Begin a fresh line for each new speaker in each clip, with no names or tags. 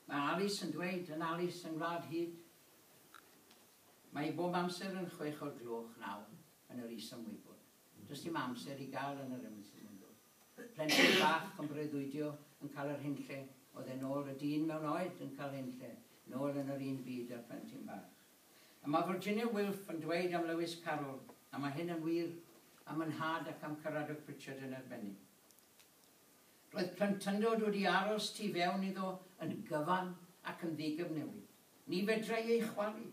Mae Alice yn dweud yn Alice yng Ngwlad Hud. Mae hi bob amser yn chwech o'r gloch naw yn yr is am wybod. Does dim amser i gael yn yr Emily's Mundo. Plentyn bach yn breuddwydio yn cael yr hyn lle oedd e nôl y dyn mewn oed yn cael hyn lle nôl yn yr un byd a'r plentyn bach. A mae Virginia Wilf yn dweud am Lewis Carroll, a mae hyn yn wir am y nhad ac am Caradog Pritchard yn arbennig. Roedd plentyndod wedi aros tu fewn iddo yn gyfan ac yn ddigyfnewid. Ni fedrai ei chwalu.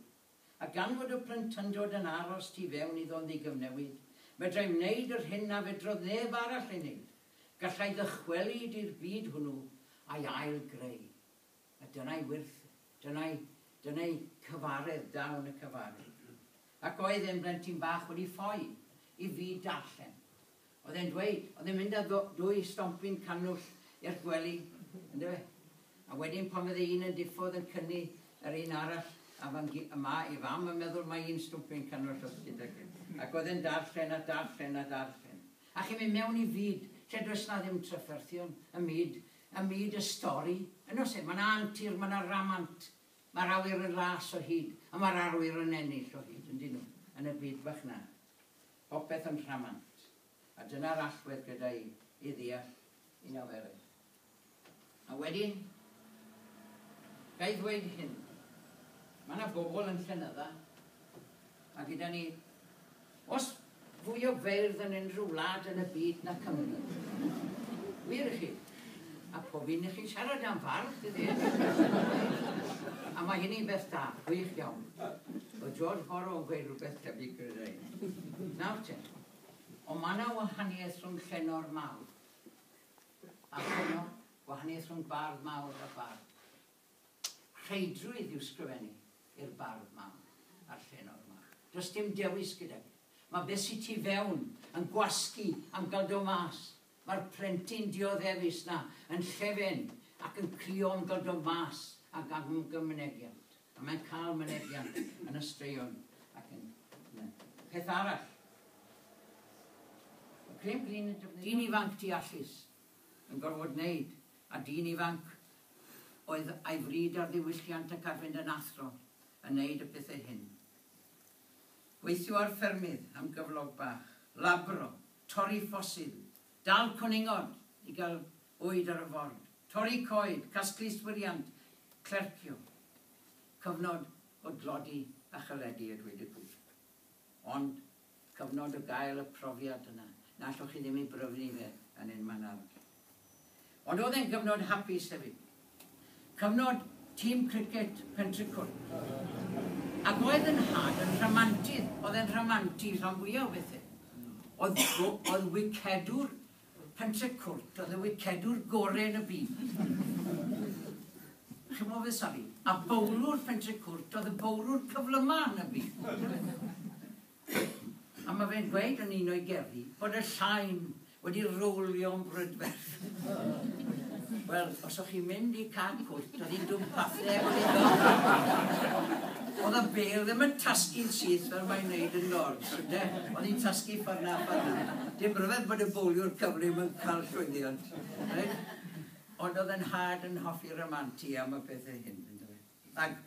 A gan fod y plentyndod yn aros tu fewn iddo yn ddigyfnewid, fedrai wneud yr hyn na fedrodd neb arall ei wneud, gallai ddychwelyd i'r byd hwnnw a'i ail-greu. A dyna'i wyrth e. Dyna'i, dyna'i cyfaredd, dawn y cyfaredd. Ac oedd e'n blentyn bach wedi ffoi i fyd darllen. Oedd e'n dweud, oedd e'n mynd â dwy stompyn cannwll i'r gwely, yndyfe? A wedyn pan fydde un yn diffodd yn cynnu yr un arall, a fan gy- a ma' ei fam yn meddwl mai un stompyn cannwll oedd gyda chi. Ac oedd e'n darllen a darllen a darllen. A chi'n mynd mewn i fyd lle does 'na ddim trafferthion, y myd, y myd y stori, yn oes e? Ma' 'na antur, ma' 'na ramant, ma'r awyr yn las o hyd, a ma'r arwyr yn ennill o hyd, yndyn nhw, yn y byd bach 'na. Popeth yn rhamant, a dyna'r allwedd gyda i i ddeall un a werith. A wedyn, ga i ddweud hyn, mae yna bobl yn Llanydda, a gyda ni, os fwy o feirdd yn unrhyw wlad yn y byd na Cymru. Wir i chi. A pob un i chi'n siarad am fardd, tydi? A mae hynny'n beth da, gwych iawn. Oedd George Borrow yn gweud rhywbeth tebyg, credai. Nawr te, ond mae yna wahaniaeth rhwng llenor mawr a llenor, wahaniaeth rhwng bardd mawr a bardd. Rheidrwydd yw sgrifennu i'r bardd mawr a'r llenor mawr. Does dim dewis gyda fi. Mae beth sy tu fewn yn gwasgu am gael do mas. Mae'r plentyn dioddefus 'na yn llefen ac yn crio am gael do mas ac am gael mynegiant. A mae'n cael mynegiant yn y straeon ac yn y peth arall. Mae Graham Greene yn defnyddio... Dyn ifanc deallus yn gorfod wneud, a dyn ifanc oedd a'i fryd ar ddiwylliant ac ar fynd yn athro yn wneud y pethau hyn. Gweithio ar ffermydd am gyflog bach, labro, torri ffosil, dal cwningod i gael bwyd ar y ford, torri coed, casglu yswiriant, clercio. Cyfnod o dlodi a chyledi a dweud y gwir. Ond cyfnod o gael y profiad yna, na allwch chi ddim ei bryfnu fe yn ein man arall. Ond oedd e'n gyfnod hapus hefyd. Cyfnod tîm criced Pentricwr. Ac oedd yn had yn rhamantydd, oedd e'n rhamantu rhan fwyaf o bethau. Oedd, oedd wicedwr Pentre Cwrt oedd y wicedwr gore yn y byd. Chimo fe, sori. A bowlwr Pentre Cwrt oedd y bowlwr cyflyma yn y byd. A mae fe'n gweud yn un o'i gerddi bod y llain wedi rowlio'n brydferth. Wel, os o'ch chi'n mynd i Cad Cwrt, oedd hi'n dwm pathe gwyddo. Oedd y bel ddim yn tasgu'n syth fel mae'n neud yn dod. Ynde, o'n i'n tasgu ffordd 'na a ffordd 'na. Dim rhyfedd bod y bowliwr cyflym yn cael llwyddiant, reit? Ond oedd 'y nhad yn hoffi ramantu am y pethe hyn, yndyfe? Ac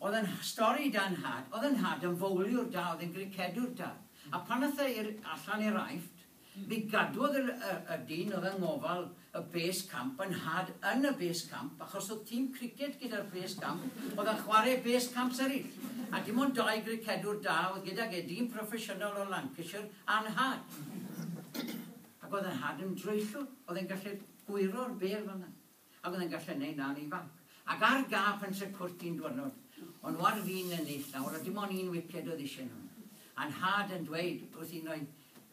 oedd 'yn stori da 'nhad, oedd 'yn nhad yn fowliwr da, oedd e'n gricedwr da. A pan ath e i'r allan i'r Aifft, Mi gadwodd yr y dyn oedd yng ngofal y base camp yn nhad yn y base camp achos oedd tîm criced gyda'r base camp oedd yn chwarae base camps eraill a dim ond dau gricedwr da oedd gydag e, dyn proffesiynol o Lancashire a nhad. Ac oedd y nhad yn droellwr, oedd e'n gallu gwyro'r bêl fan'na. A fyddai'n gallu neud na yn ifanc. Ac ar gâp yn Sir Cwrt un dwyrnod. O'n nhw ar fin ennill nawr a dim on un wiced oedd isie nhw. A nhad yn dweud wrth un o'i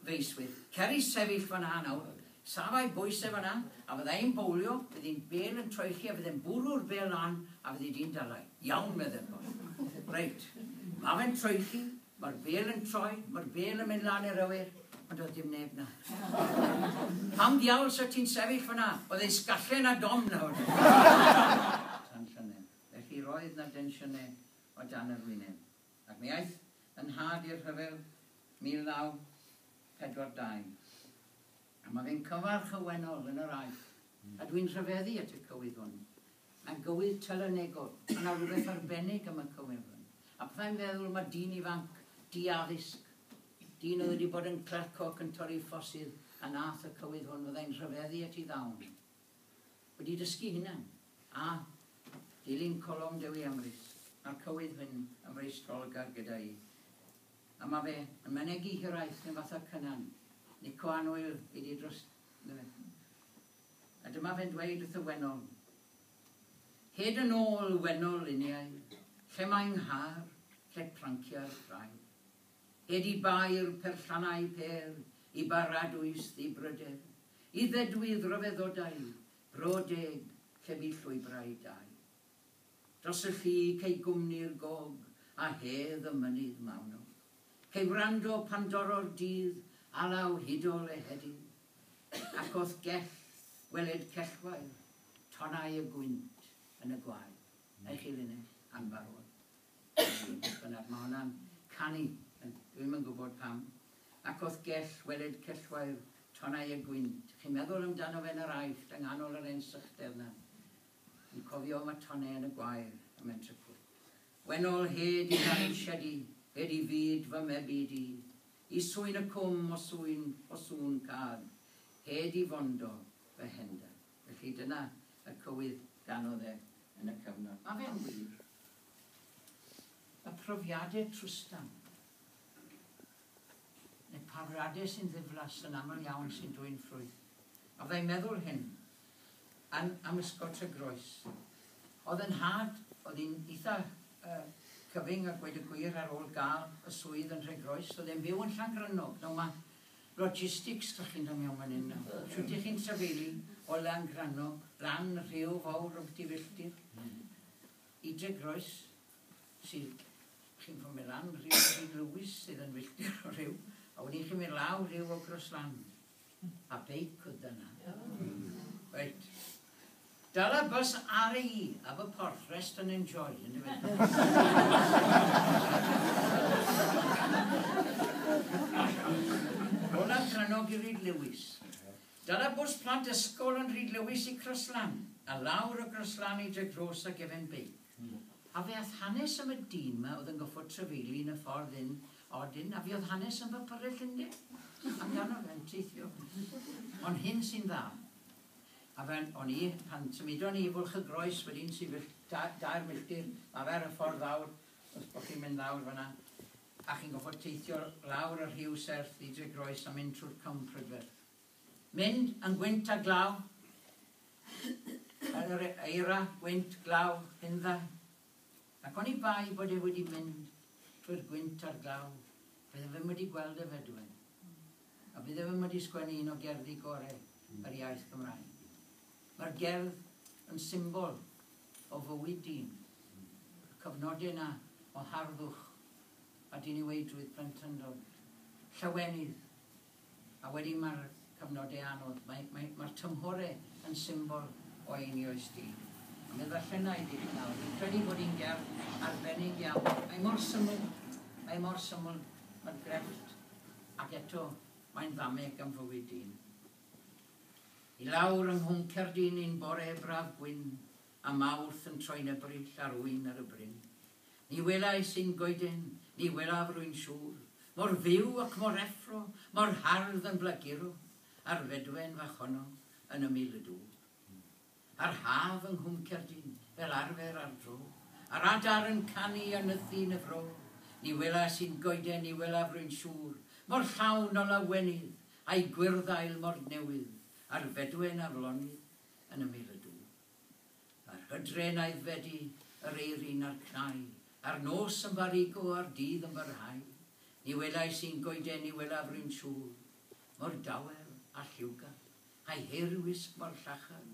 feiswyr, Cer i sefyll fan'na nawr. Safai bwyse fan'na, a fyddai'n bowlio, bydd un bêl yn troelli a fydd e'n bwrw'r bêl lan a fyddi di'n dala i. Iawn, meddai'r boi. Reit. Ma' fe'n troelli, Mae'r bêl yn troi, mae'r bêl yn mynd lan i'r awyr, ond doedd dim neb 'na. Pam ddiawl 'sa ti'n sefyll fan'na? Oedd e'n sgalle na dom nawr! Tensiynau. Felly roedd 'na densiynau o dan yr wyneb. Ac mi aeth yn nhad i'r rhyfel 1942. A mae fe'n cyfarch y wennol yn yr Aifft, a dwi'n rhyfeddu at y cywydd hwn. Mae'n gywydd telynegol, mae 'na rywbeth arbennig am y cyfeillion. A pethau'n feddwl am y dyn ifanc, di-addysg, dyn oedd wedi bod yn clerc ac yn torri ffosydd a wnaeth y cywydd hwn fyddai'n rhyfeddu at ei ddawn. Wedi dysgu hunan. A, dilyn colofn Dewi Amrys, mae'r cywydd hyn yn freistrolgar gyda i. A mae fe yn mynegi hiraeth neu fatha Cynan, Nico Annwyl, ei di dros A dyma fe'n dweud wrth y wennol, Hyd yn ôl wennol luniau, lle mae 'nghar, lle plancia'r traed? Hyd i bair perllannau pêr, i baradwys ddibryder, i ddedwydd ryfeddodau, bro deg, lle bu llwybrau dau. Dros y llu cei gwmni'r gog a hedd y mynydd mawnog. Cei wrando pan dorro'r dydd alaw hudol ehedydd. Ac os gell weled cellwair tonnau y gwynt yn y gwaed, neu chi linell anfarwol, neu beth bynnag, mae hwnna'n canu, dwi'm yn gwybod pam, ac os gell weled cellwair tonnau y gwynt, chi'n meddwl amdano fe yn yr Aifft, yng nghanol yr hen sychder 'na, yn cofio am y tonnau yn y gwair, a mae'n tricw. Wennol, hed i ddail siedi, hed i fyd fy mebyd i, Y sŵn y cwm o sŵn o sŵn cad hed i fondo fy hender. Felly dyna y cywydd ganodd e yn y cyfnod. Mae fe'n wych. Y profiadau trwstan, neu profiadau sy'n ddiflas yn aml iawn sy'n dwyn ffrwyth. A fyddai'n meddwl hyn, yn am ysgol Tregroes. Oedd yn nhad, oedd hi'n eitha cyfyng a gweud y gwir ar ôl gael y swydd yn Nhregroes, oedd e'n byw yn Llangrannog. Nawr mae logistics dych chi'n dod mewn fan hyn nawr. Shwt dych chi'n trafeili o Langrannog lan y rhew fawr o byti filltir i Dregroes sydd chi'n ffordd mynd lan rhyw Sir Lewis sydd yn filltir o rhyw a wedyn chi'n mynd lawr rhyw o Groslan. A beic oedd dyna. Reit. Dala bws RAE a fy porth rest and enjoy, yn dyfe? Olaf Tranog i Rhyd Lewis. Dala bws plant ysgol yn Rhyd Lewis i Croslan, a lawr o Groslan i Dragros a gefen beic. A fe ath hanes am y dyn ma oedd yn goffod trefeili yn y ffordd hyn A wedyn, a fuodd hanes yn bypyrrell Llundain amdano fe'n teithio. Ond hyn sy'n dda. A fe'n, o'n i, pan symudon ni i Bwlch y Groes wedyn sy fell- da- dair milltir lawer y ffordd lawr, os bo' chi'n mynd lawr fan'na, a chi'n goffod teithio lawr y rhiw serth i Dre Groes a mynd trwy'r Cwm Prydferth. Mynd yn gwynt a glaw, yr eira, gwynt, glaw, hundda, Ac oni bai bod e wedi mynd trwy'r gwynt a'r glaw, bydde fe'm wedi gweld y fedwen, a bydde fe'm wedi sgwennu un o gerddi gore yr iaith Gymraeg. Mae'r gerdd yn symbol o fywyd dyn, y cyfnode 'na o harddwch a diniweidrwydd plentyndod, llawenydd, A wedyn mae'r cyfnodau anodd. Mae, mae, mae'r tymhorau yn symbol o eini oes di. A mi ddarllena i dipyn nawr. Fi'n credu bod hi'n gerdd arbennig iawn. Mae mor syml, mae mor syml, mae'r grefft, ac eto mae'n fameg am fywyd dyn. I lawr yng Nghwm Cerdyn un bore braf gwyn, A Mawrth yn troi'n Ebrill ar ŵyn ar y bryn. Ni welais un goeden, ni welaf rwy'n siŵr, Mor fyw ac mor effro, mor hardd yn blaguro, A'r fedwen fach honno yn ymyl y dŵr. A'r haf yng Nghwm Cerdyn, fel arfer ar dro, A'r adar yn canu a nythu yn y fro, Ni welais un goeden, ni welaf rwy'n siŵr, Mor llawn o lawenydd, a'i gwyrdd ail mor newydd, A'r fedwen aflonydd yn ymyl y dŵr. Yr hydren aeddfedu, yr eirin a'r cnau, a'r nos yn farigo a'r dydd yn barhau, ni welais un goeden ni welaf run siŵl, mor dawel a lliwgar, a'i heir wisg mor llachar,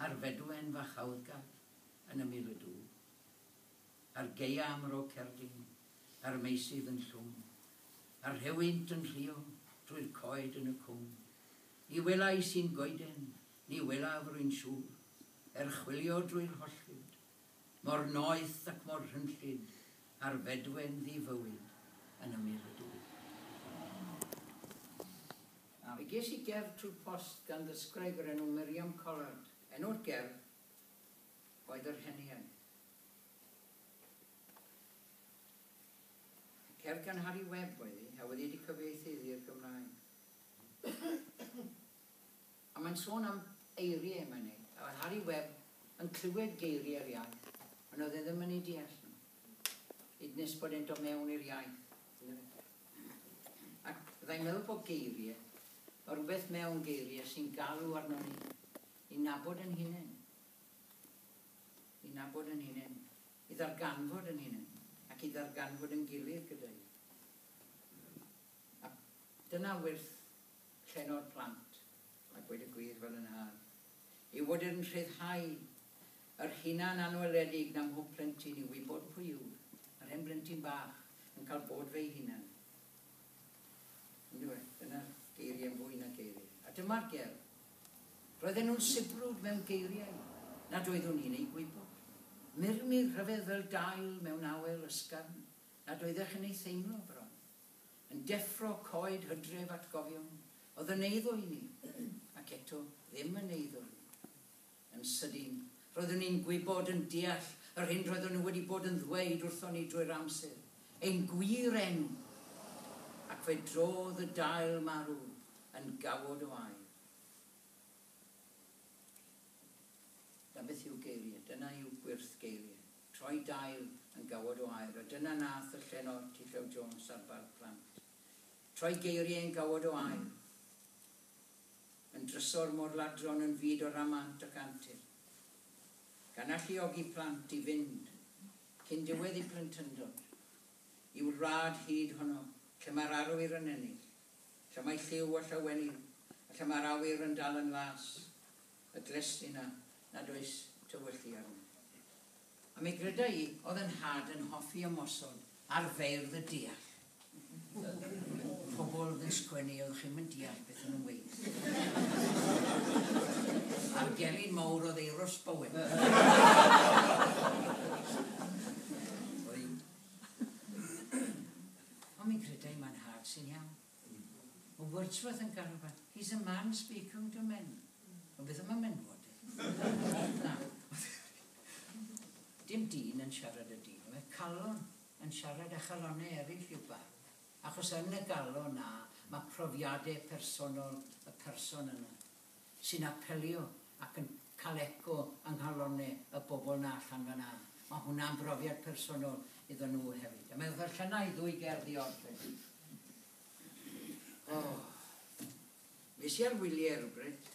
a'r fedwen fach aoddgar yn ymyl y dŵr. A'r gaea am ro cerdyn, a'r meisydd yn llwm, a'r rhewynt yn rhuo drwy'r coed yn y cwm, ni welais un goeden Ni welaf, rwy'n siŵr, er chwilio drwy'r holl fyd, Mor noeth ac mor rhynllyd a'r fedwen ddi-fywyd yn ymyr y du. Fe ges i gerdd trwy'r post gan ddysgwraig o'r enw Miriam Collard. Enw'r gerdd oedd Yr Heniaith. Y cerdd gan Harri Webb oedd hi, a wedi'i cyfieithu iddi i'r Gymraeg. A mae'n sôn am eiriau, mae'n ei. A oedd Harri Webb yn clywed geiriau'r iaith, ond oedd e ddim yn eu deall nhw, hyd nes bod e'n dod mewn i'r iaith, yndyfe? Ac fyddai'n meddwl bod geiriau, mae rhywbeth mewn geiriau sy'n galw arnon ni i nabod yn hunain, i nabod yn hunain, i ddarganfod yn hunain, ac i ddarganfod yn gilydd gyda'i. A dyna wyrth Llenor plant, a gweud y gwir fel yn hâl, yw fod yn rhyddhau yr hunan anweledig na mhob plentyn i wybod pwy yw'r yr hen blentyn bach yn cael bod fe'i hunan. Yndywe, dyna'r geiriau'n fwy na geiriau. A dyma'r gerdd. Roedden nhw'n sibrwd mewn geiriau nad oeddwn i'n eu gwybod. Murmur rhyfedd fel dail mewn awel ysgafn nad oeddech yn ei theimlo bron. yn deffro coed hydref atgofion oedd yn eiddo i mi, ac eto ddim yn eiddo i mi. Yn sydyn, roeddwn i'n gwybod, yn deall, yr hyn roeddwn nhw wedi bod yn ddweud wrthon ni drwy'r amser, ein gwir enw! Ac fe drodd y dail marw yn gawod o aer. Na beth yw geiriau, dyna yw gwyrth geiriau. troi dail yn gawod o aer, a dyna nath y llenor T-Llew Jones ar Barc Plant. Troi geirie yn gawod o aer. Yn drysor mor ladron yn fyd o ramant ac antur. Gan alluogi plant i fynd, cyn diwedd i plentyndod, i'w wlad hud honno lle mae'r arwyr yn ennill, lle mae lliw a llawenydd, a lle mae'r awyr yn dal yn las. y glust yna nad oes tywyllu arno. A mi gryda i, oedd 'yn nhad yn hoffi ymosod ar feirdd y deall. Y pobl oedd yn sgwennu oedd chi'm yn deall beth o'n nhw'n weud. A'r gelyn mawr oedd Euros Bowen. Ond mi gryda i mae 'nhad sy'n iawn. Mae Wordsworth yn garfan. He's a man speaking to men. Ond beth am y menywod de? Na. Dim dyn yn siarad y dyn, mae calon yn siarad â chalonau eraill i'w barn. Achos yn y galon 'na, mae profiadau personol y person yna. sy'n apelio ac yn cael eco yng nghalonne y bobl 'na allan fan 'na. Mae hwnna'n brofiad personol iddon nhw hefyd. A mae wrth y Llynau ddwy gerdd i orffen. O! Fues i ar wyliau rywbryd,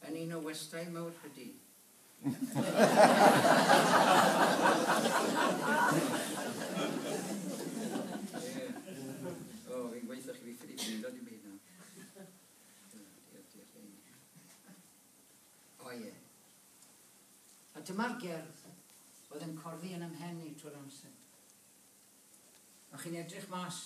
yn un o westai mawr Rhydi. O, fi'n gweithio chi fi ffili gwylio dim byd nawr. O ie. A dyma'r gerdd oedd yn corddi yn ymhen i trwy'r amser. A chi'n edrych mas,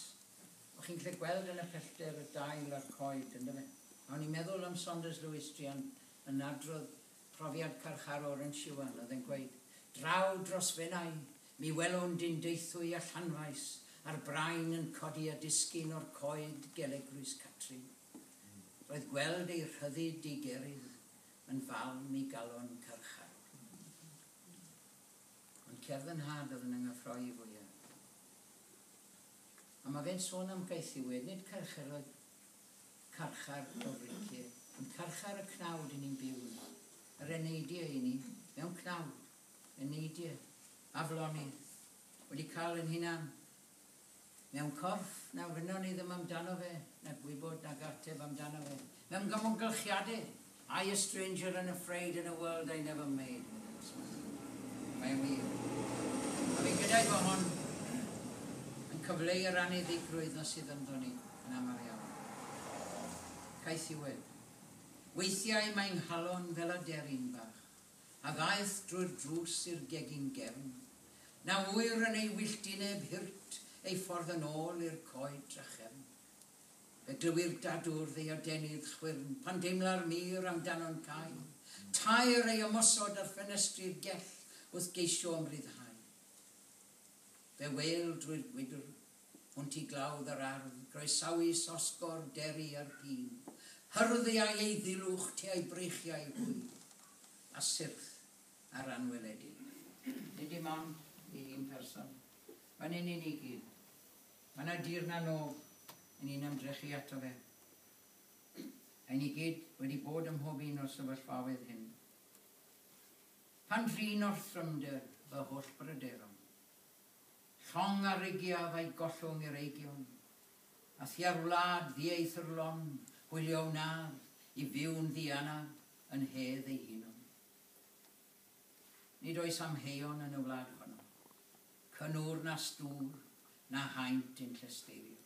o chi'n gallu gweld yn y pellter y dail a'r coed, ynddo fe? A o'n i'n meddwl am Saunders Lewis Drian yn adrodd Profiad parchar Oren Siwan oedd yn gweud, Draw dros Fenai, mi welwn dyn deithwy a llanfaes, a'r brain yn codi a disgyn o'r coed gel eglwys Catrin. Roedd gweld ei rhyddid digerydd yn falm i galon carcharor. Ond cerdd y nhad oedd yn yngyffroi fwyaf. A mae fe'n sôn am gaethiwed, nid carcharor, Carchar o Fryncir yn carchar y cnawd i ni'n byw yno. Yr eneidiau i ni mewn cnawd. Eneidiau, aflonydd, wedi cael yn hunan mewn corff na wynon ni ddim amdano fe, na gwybod nag ateb amdano fe. Mewn gamwgylchiadau! I a stranger and afraid in a world I never made with a stranger. Mae'n wir. A fi'n credu bod hon yn cyfleu yr anniddigrwydd na sydd ynddo ni yn aml iawn. Caethiwed. Weithiau mae nghalon fel aderyn bach a ddaeth drwy'r drws i'r gegin gefn. Na ŵyr yn ei wylltineb hirt ei ffordd yn ôl i'r coed drachefn. Y dywir dadw'r ddiodenydd chwyrn pan deimla'r mur amdano'n cau, tair ei ymosod ar ffenestri'r gell wrth geisio ymryddhau. Fe wêl drwy'r gwydr, hwnt i glawdd yr ardd, groesawu sosgor deri a'r pîn, hyrddi â'i eiddilwch tua'i breichiau hwy, a syrth ar anweledig. Nid dim ond i un person, fan hyn i ni gyd. Mae yna dir na nof yn ein ymdrechu ato fe. Ein ni gyd wedi bod ym mhob un o'r sefyllfaoedd hyn. Pan drin orthrymder fy holl bryderon. Llong a rigiaf a'i gollwng i'r eigion. A thua'r wlad ddieithrlon hwylio wnaf i fyw'n ddianaf yn hedd ei hunon. Nid oes amheuon yn y wlad honno, cynnwr na stŵr na haint i'n llesteirio.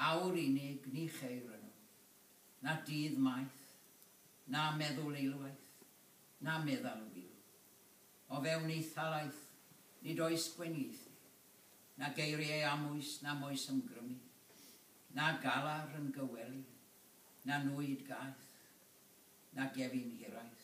Awr unig ni cheir yno, na dydd maith, na meddwl eilwaith, na meddal wil. O fewn ei thalaith nid oes gwenieithu, na geiriau amwys na moes ymgrymu, na galar yn gy wely, na nwyd gaeth, na gefin hiraeth.